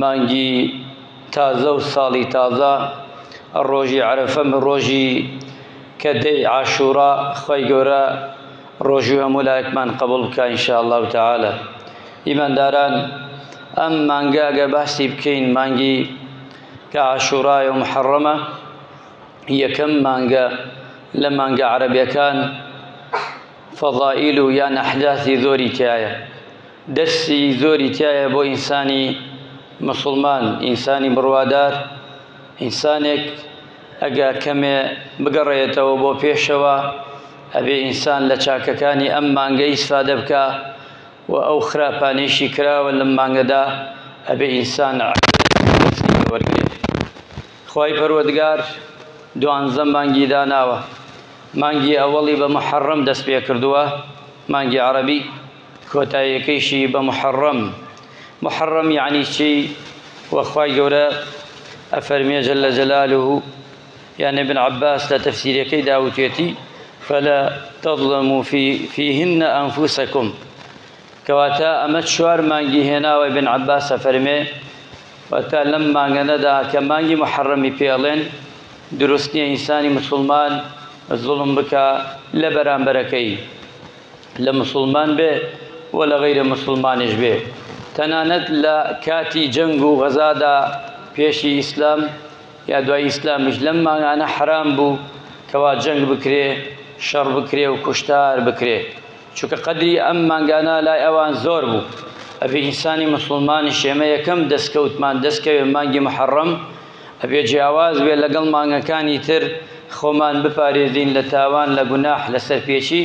مانگی تازە و ساڵی تازە ڕۆژی عەرەفە ڕۆژی کە دەی عاشورا خوای گەورە ڕۆژوی هەموو لایەکمان قبوڵ بکە ان شاء الله تعالی ئیمانداران ئەم مانگە گە باسی بکەین مانگی کە عاشورای و محەڕەمە یەکەم مانگە لە مانگە عەرەبەکان فەضائیل و یان ئەحداثی زۆری تایە دەرسی زۆری تیایە بۆ ئینسانی موسڵمان ئینسانی بڕوادار ئینسانێک ئەگا کەمێ بگەڕێتەوە بۆ پێشەوە ئەبێ ئینسان لە چاکەکانی ئەم مانگە ئیسفادە بکە و ئەو خراپانەیشی کراوە لەم مانگەدا ئەبێ ئینسان وەرگێت خی پەروەگار دوانزە مانگی داناوە مانگی ئەوەڵی بە محەڕم دەست پێ کردووە مانگی عربی کۆتاییەکەیشی بە موحەڕەم، موحەڕەم یەعنی چی؟ وە خوای گەورە ئەفەرموێ جل جلالە، یان ابن عباس لە تەفسیرەکەیدا وتوێتی، فلا تظلموا فیهن انفسکم، کەواتە ئەمە چوار مانگی هێناوە، ابن عباس ئەفەرموێ واتە لەم مانگەنەدا کە مانگی موحەڕەمی پێ ئەڵێن دروست نیە ئینسانی مسوڵمان زوڵم بکا لە بەرامبەرەکەی، لە موسڵمان بێ و لە غەیرە موسڵمانیش بێ تەنانەت لە کاتی جەنگ و غەزادا پێشی ئیسلام یا دوای ئیسلامیش لەم مانگانە حرام بوو کەوا جەنگ بکرێ شەڕ بکرێ و کوشتار بکرێ چونکە قەدری ئەم مانگانە لای ئەوان زۆر بوو ئەبێ ئینسانی موسڵمانی شێمە یەکەم دەستکەوتمان دەستکەوێ مانگی محەڕەم ئەبێ جیاواز بێت لەگەڵ مانگەکانی تر، خۆمان بپارێزین لە تاوان، لە گوناح، لە سەرپێچی،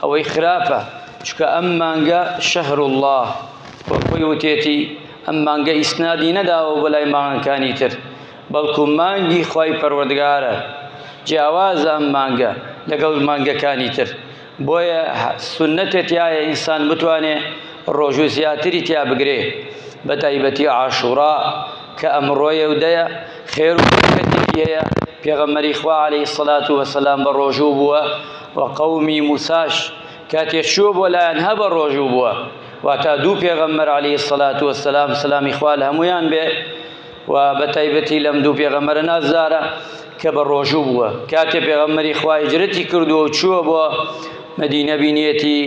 ئەوەی خراپە، چونکە ئەم مانگە، شهر اللە، وەک خۆی وتێتی، ئەم مانگە ئیسنادی نەداوە بۆ لای مانگەکانی تر، بەڵکو مانگی خوای پەروەردگارە، جیاوازە ئەم مانگە لەگەڵ مانگەکانی تر. بۆیە سونەتێ تیایە ئینسان بتوانێ ڕۆژوو زیاتری تیا بگرێ بە تایبەتی عاشوڕا کە ئەمڕۆیە و دەیە خێر و بەرکەتێکی هەیە پێغەمەری خوا عليهەی سەلات و وەسەلام بە ڕۆژوو بووە و قەومی موساش کاتێ چووە بۆ لایەن هە بە ڕۆژوو بووە واتا دوو پێغەمبەر علی سەلات وسلام سلامی خوال هەمویان بێ و بەتایبەتی لەم دوو پێغەمبەرە نازدارە کە بە ڕۆژوو بووە کاتێ پێغەمبەری خوا هجرەتی کردووە و چووە بۆ مەدینە بینێتی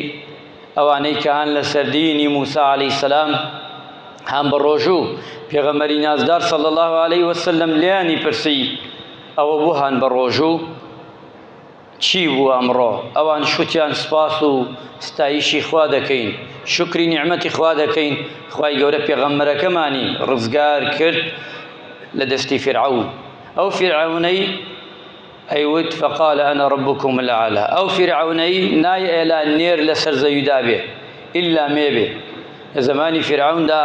ئەوانەی کە هەن لە سەردینی موسا عەلەی سەسلام هەم بە ڕۆژوو پێغەمەری نازدار سەڵ الله عليه وسلم لیانی پرسی ئەوە بۆ هەن بە ڕۆژوو چی بوو ئەمڕۆ؟ ئەوان شوتیان سوپاس و ستایشی خوا دەکەین، شوکری نیعمەتی خوا دەکەین، خوای گەورە پێغەمبەرەکەمانی ڕزگار کرد لە دەستی فیرعەون، ئەو فیرعەونەی ئەیوت فقال انا ربکم الاعلی، ئەو فیرعەونەی نایئلا نێر لەسەر زەویدا بێ ئیلا مێ بێ، لە زەمانی فیرعەوندا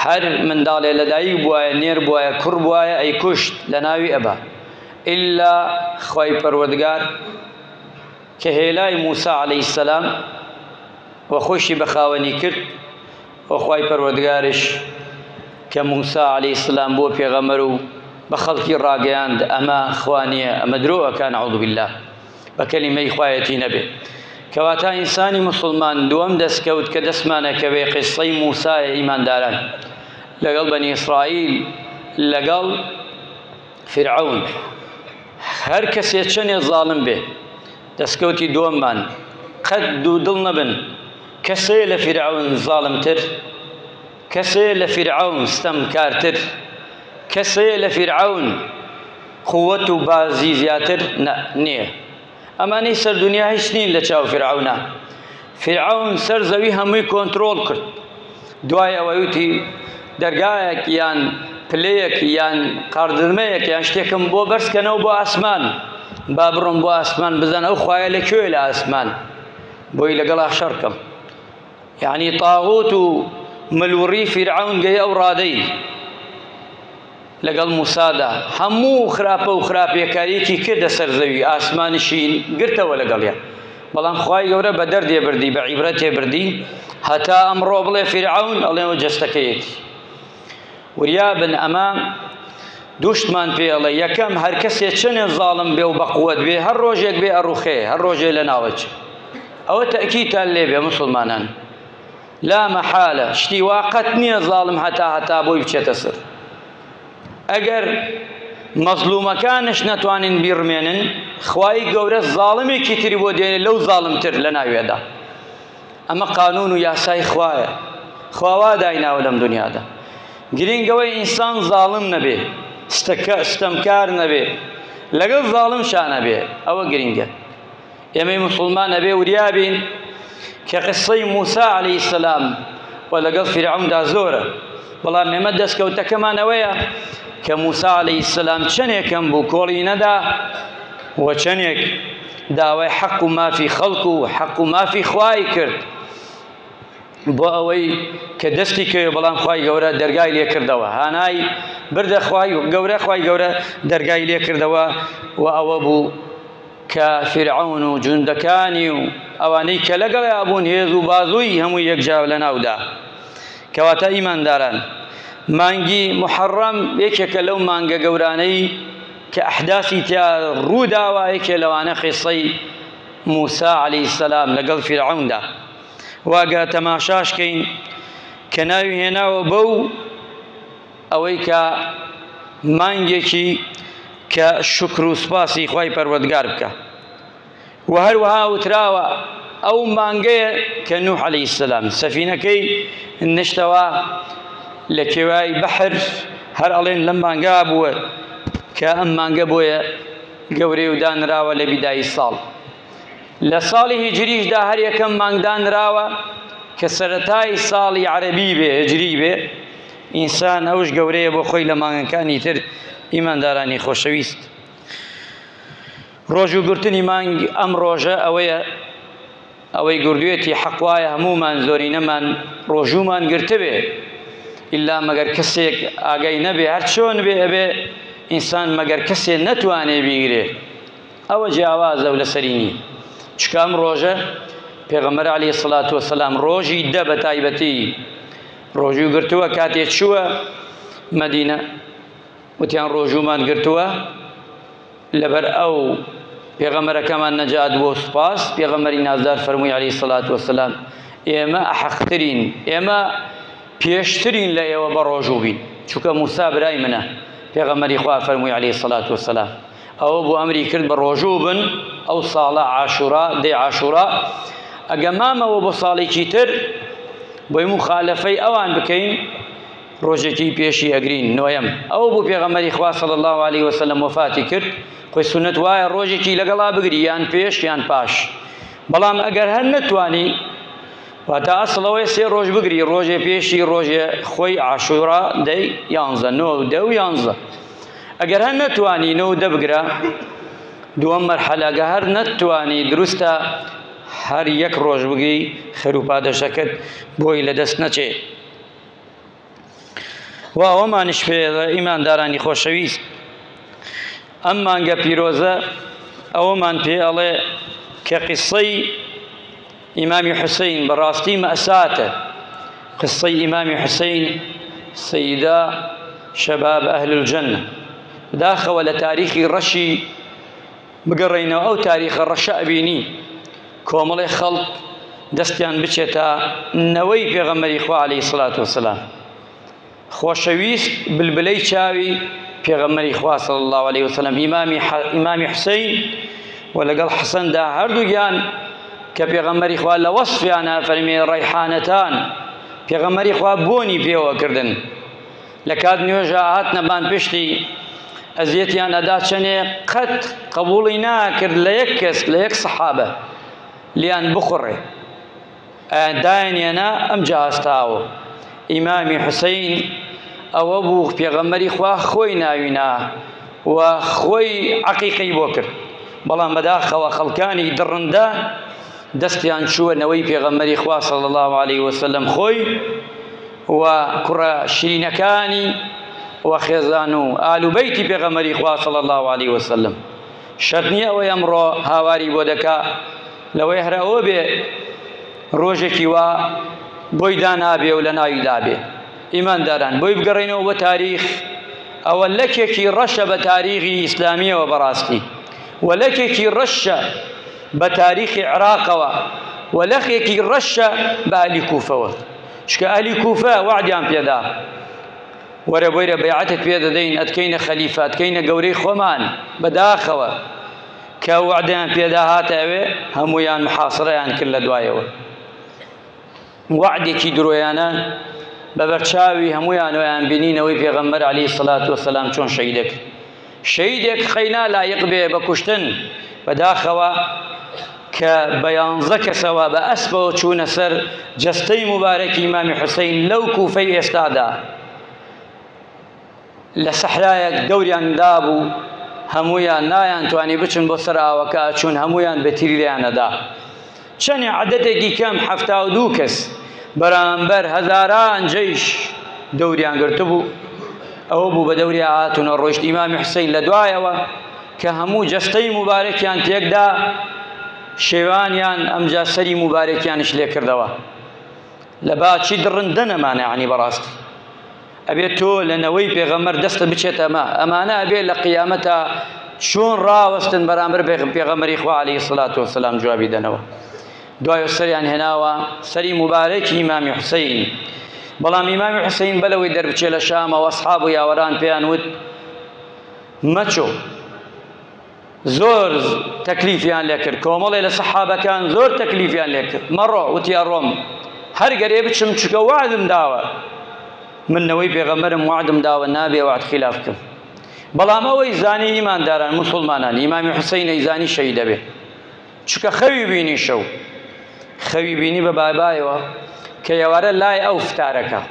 هەر منداڵێ لەدایک بوایە نێر بوایە کوڕ بوایە ئەیکوشت لەناوی ئەبا، ئیللا خوای پەروەردگار کە هێلای موسا عەلەیهی السلام و خۆیشی بە خاوەنی کرد و خوای پەروەردگارش کە موسا عەلەیهی السلام بووە پێغەمبەر و بە خەڵکی ڕاگەیاند ئەمە خوا نییە ئەمە درۆ ئەکا نعوذ باللە بە کەلیمەی خوایەتی نەبێ کەواتە ئینسانی موسڵمان دووەم دەستکەوت کە دەستمانەکەوێ قسەی موسایە ئیمانداران لەگەڵ بەنی ئیسرائیل لەگەڵ فرعون هەر کەسێ چەنێ زاڵم بێ دەستکەوتی دووەممان قەت دوو دڵ نەبن کەسێ لە فرعون زاڵمتر کەسێ لە فرعون ستەمکارتر کەسێ لە فرعون قوت و بازی زیاتر نە نییە ئەمانەی سەر دنیا هیچ نین لە چاو فرعەونا فرعەون سەر زەوی هەمووی کۆنتترۆل کرد دوای ئەوەی وتی دەرگایەک یان پلەیەک یان قاردرمەیەک یان شتێکم بۆ بەرزکەنەوە بۆ ئاسمان با بڕۆم بۆ ئاسمان بزان ئەو خوایە لە کوێ لە ئاسمان بۆی لەگەڵ شەڕکەم یعنی تاغوت و ملوڕی فرعەون گەی ئەو ڕادەی لەگەڵ موسادا هەموو خراپە و خراپیەکاریەکی کردە سەر زەوی ئاسمانیشی گرتەوە لەگەڵیا بەڵام خوای گەورە بە دەردێ بردی بە عیبرەتێ بردی هەتا ئەمڕۆ بڵێ فرعون ئەڵێەوە جەستەکەیەتی وریابن ئەمە دوشتمان پێڵە یەکەم هەر کەسێ چەنێ زاڵم بێ و بەقوت بێ هەر ڕۆژێک بێ ئەڕوخێ هەر ڕۆژێ لە ناوەچ ئەوە تەکیتان لێبێ مسلمانان لا مەحالە شتی وا قەت نیە زاڵم هەتا هەتا بۆی بچێتە سەر ئەگەر مەزلومەکانش نەتوانین بیڕمێنن خوای گەورە زاڵمێکی تری بۆ دێنێ لەو زاڵمتر لە ناوێدا ئەمە قانون و یاسای خوایە خواوا دایناوە لەم دنیادا گرنگەوەی ئینسان زاڵم نەبێ ستەکە ستەمکار نەبێ لەگەڵ زاڵم شانەبێ ئەوە گرنگە ئێمەی موسڵمان ئەبێ وریا بین کە قسەی موسا عەلەیهی سەلام و لەگەڵ فیرعەوندا زۆرە بەڵام ئێمە دەستکەوتەکەمان ئەوەیە کە موسا عەلەیهی سەلام چەندێکم بوو کۆڵی نەدا و چەندێک داوای حەق و مافی خەڵک و حەق و مافی خوای کرد بۆ ئەوەی کە دەستی کەوێ بەڵام خی گەورە دەرگای لێ کردەوە هانای بردە خی گەورە خی گەورە دەرگای لێ کردەوە و ئەوە بوو کە فیرعەون و جوندەکانی و ئەوانەی کە لەگەڵیا بوون هێز و بازووی هەمووی یەکجار لەناودا. کەواتە ئیمانداران، مانگی موحەڕەم یەکێکە لەو مانگە گەورانەی کە ئەحداسی تیا ڕووداوە، یەکێ لەوانە قیسەی موسا عەلەیهی سەلام لەگەڵ فیرعەوندا. وە گەر تەماشاش کەین کە ناوی هێناوە بەو، ئەوەی کە مانگێکی کە شوکر و سوپاسی خوای پەروەردگار بکە و هەروەها وتراوە ئەو مانگەیە کە نوح عەلەیهی السلام سەفینەکەی نشتەوە لە کێوای بەحر هەر ئەڵێن لەم مانگا بووە کە ئەم مانگە بۆیە گەورەی و دانراوە لە بیدایی ساڵ لە ساڵی هیجریشدا هەر یەکەم مانگدانراوە کە سەرەتای ساڵی عەرەبی بێ هجری بێ ئینسان ئەوش گەورەیە بۆ خۆی لە مانگەکانی تر ئیماندارانی خۆشەویست ڕۆژ و گرتنی مانگ ئەم ڕۆژە ئەوەیە ئەوەی گردوێتی حەقوایە هەمومان زۆرینەمان ڕۆژومان گرتبێ ئللا مەگەر کەسێک ئاگای نەبێ هەر چۆن بێ ئەبێ ئینسان مەگەر کەسێ نەتوانێ بیگرێ ئەوە جیاوازە و لەسەرینی چکام ڕۆژە پێغەمەر علی سلات وسلام ڕۆژی دە بە تایبەتی ڕۆژوو گرتووە کاتێ چووە مەدینە وتیان ڕۆژوومان گرتووە لەبەر ئەو پێغەمەرەکەمان نەجات بۆ سوپاس پێغەمەری نازدار فەرمووی علی سلات وسلام ئێمە ئەحەقترین ئێمە پێشترین لە ئێوە بە ڕۆژوو بین چونکە موسا برای منە پێغەمەری خوا فەرمووی علی سلات وسلام ئەوە بۆ ئەمری کرد بە ڕۆژوو بن ئەو ساڵە عاشورا دەی عاشورا ئەگە مامەوە بۆ ساڵێکی تر بۆی مخالفەی ئەوان بکەین ڕۆژێکی پێشی ئەگرین نۆیەم ئەو بۆ پێغەمەری خوا صلی الله عليه وسلم وفاتی کرد خۆی سنت وایە ڕۆژێکی لەگەڵا بگری یان پێش یان پاش بەڵام ئەگەر هەر نەتوانی واتا ئەسڵەوەی سێ ڕۆژ بگری ڕۆژێ پێشی ڕۆژێ خۆی عاشورا دەی یانزە نۆ دە و یانزە ئەگەر هەر نەتوانی نەوت دەبگرە دووەم مەرحەلە ئەگە هەر نەتوانی دروستە هەر یەک ڕۆژ بگی خێروپادەشەکەت بۆی لەدەست نەچێ و ئەوەمانش پێ ئیماندارانی خۆشەویست ئەم مانگە پیرۆزە ئەوەمان پێ ئەڵێ کە قسەی ئیمامی حسین بەڕاستی مەئساتە قسەی ئیمامی حسین سیدا شەباب ئەهل الجنە داخەوە لە تاریخی ڕەشی بگەڕێینەوە ئەو تاریخە ڕەشە ئەبینی کۆمەڵی خەڵک دەستیان بچێتە نەوەی پێغەمەری خوا عليه سلات وسلام خۆشەویست بلبلەی چاوی پێغەمبەری خوا صلی اللە علیە وسلم ئیمامی ئیمامی حسین و لەگەڵ حەسەندا هەردووگیان کە پێغەمبەری خوا لە وەصفیانە فەرمی ڕیحانەتان پێغەمبەری خوا بۆنی پێوە کردن لە کات نوێژە هاتنە بان پشتی ئەزیەتیان ئەدا چەنێ قەت قبوڵی ناکرد لە یەک کەس لە یەک سەحابە لیان بخوڕێ داینێنا ئەم جا ئەستاوە ئیمامی حسین ئەوە بوو پێغەمبەری خوا خۆی ناوینا و خۆی عقیقەی بۆ کرد بەڵام بەداخەوە خەڵکانی دڕندە دەستیان چووە نەوەی پێغەمبەری خوا صلی الله علیه وسلم خۆی و کوڕە شیرینەکانی و خێزان و ئالوبەیتی پێغەمبەری خوا صلی الله علیه وسلم شەرنی ئەوەی ئەمڕۆ هاواری بۆ دەکا لەوەی هەر ئەوە بێ ڕۆژێکی وا بۆی دانابێ و لە ناوی دابێ ئیمانداران بۆی بگەڕێنەوە بە تاریخ ئەوە لەکێکی ڕەشە بە تاریخی ئیسلامیەوە بەڕاستی و لەکێکی ڕەشە بە تاریخی عراقەوە و لەخێکی ڕەشە بە ئەلی کوفەوە چکە ئەلی کوفە وعدیان پێدا وەرە بۆیرە بەیعەتت پێ دەدەین ئەتکەینە خەلیفە ئەتکەینە گەورەی خۆمان بەداخەوە کە وەعدەیان پێدا هاتە ئەوێ هەموویان محاصرەیان کرد لە دوایەوە وەعدێکی درۆیانە بە بەرچاوی هەموویانەوەیان بینینەوەی پێغەمبەر علی سلات و سەسلام چۆن شەیدێک شەیدێک قەینا لایق بێ بە کوشتن بەداخەوە کە بە یانزە کەسەوە بە ئەسپەوە چوونە سەر جەستەی مبارەکی مامی حوسین لەو کوفەی ئێستادا لە سەحرایەک دەوریان دابوو هەموویان نایانتوانی بچن بۆ سەر ئاوەکە ئەچوون هەموویان بەتیری لێیانەدا چەنێ عەدەتێکی کەم حەفتا و دوو کەس بەرامبەر هەزاران جەیش دەوریان گرتبوو ئەوە بوو بە دەوری هاتونە ڕۆشت ئیمامی حسین لە دوایەوە کە هەموو جەستەی مبارەکیان تێکدا شێوانیان ئەمجا سەری مبارەکیانش لێکردەوە لە باچی دڕندە نەمانە عنی بەڕاستی ئەبێ تۆ لە نەوەی پێغەمبەر دەستە بچێت ئەمە ئەمانە ئەبێ لە قیامەتا چۆن ڕاوەستن بەرامبەر پێغەمبەری خوا عەلەیهی سڵات و سەلام جوابی دەنەوە دوای سەریان هێناوە سەری مبارەکی ئیمامی حوسین بەڵام ئیمامی حوسین بەلەوەی دەربچێ لە شامەوە ئەسحاب و یاوەران پێیان وت مەچۆ زۆر تەکلیفیان لێکرد کۆمەڵێ لە سەحابەکان زۆر تەکلیفیان لێکرد مەڕۆ وتی ئەڕۆم هەر گەرێ بچم چکە وعدم داوە من نەوەی پێغەمبەرم وعدم داوە نابێ وعد خلاف بکەم بەڵام ئەوەی زانی ئیمانداران مسلمانان ئیمامی حسینەی زانی شەهیدەبێ چکە خەوی بینی شەو خەوی بینی بە بابایەوە کە یەوارە لای ئەو فتارەکە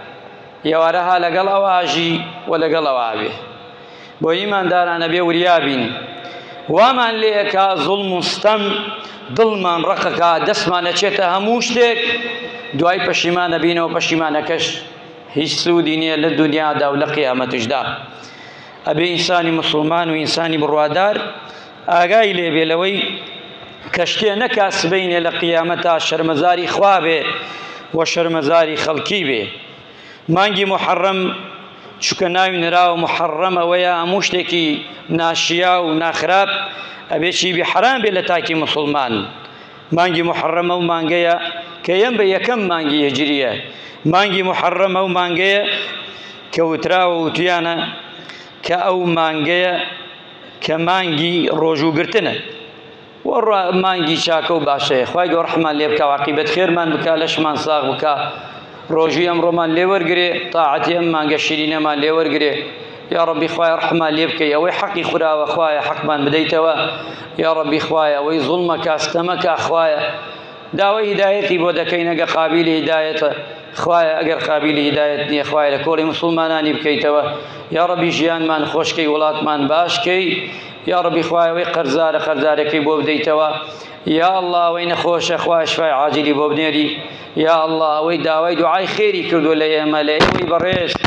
یەوارە ها لەگەڵ ئەو ئاژی و لەگەڵ ئەو ئاوێ بۆ ئیماندارانە بێ وریابین وامان لێکا زوڵم و ستەم دڵمان ڕقەکە دەستمانە چێتە هەموو شتێک دوای پەشیمانە بینەوە پەشیمانەکەش هیچ سوودی نییە لە دنیادا و لە قیامەتشدا ئەبێ ئینسانی مسلمان و ئینسانی بڕوادار ئاگای لێ بێ لەوەی کە شتێ نەکا سبەینێ لە قیامەتا شەرمەزاری خوا بێ و شەرمەزاری خەڵکی بێ. مانگی موحەڕەم، چونکە ناوی نراوە موحەڕەم ئەوەیە هەموو شتێکی ناشیاو و ناخراپ ئەبێ چی بێ حەرام بێ لە تاکی موسڵمان. مانگی موحەڕەم ئەو مانگەیە کە یەم بە یەکەم مانگی هیجرییە. مانگی موحەڕەم ئەو مانگەیە کە وتراوە وتویانە کە ئەو مانگەیە، کە مانگی ڕۆژوو گرتنە و مانگی چاکە و باشەیە خوای گەۆر حمان لێ بکە واقیبەت خێرمان بکە لەشمان ساغ بکە ڕۆژوی ئەم ڕۆمان لێوەرگێ تاعەتی ئەم مانگە شیرینەمان لێوەرگێ یا ڕبی خوای ڕحمان لێ بکەی ئەوەی حەقی خوراوە خوایە حەقمان بدەیتەوە یا ڕبی خوایە ئەوەی زوڵمەکە ستەمەکە خوایە داوای هیدایەتی بۆ دەکەینەگە قابلی هیدایەتە خوایە ئەگەر قابیلی هیدایەت نیە خوایە لە کۆڵی موسڵمانانی بکەیتەوە یاڕەبی ژیانمان خۆشکەی وڵاتمان باشکەی یاڕەبی خوایە وەی قەرزارە قەرزارەکەی بۆ بدەیتەوە یا الله ئەوەی نەخۆشە خوایە شفای عاجلی بۆ بنێری یا الله ئەوەی داوای دوعای خێری کردو لە ئێمە لە ئێوەی بەڕێز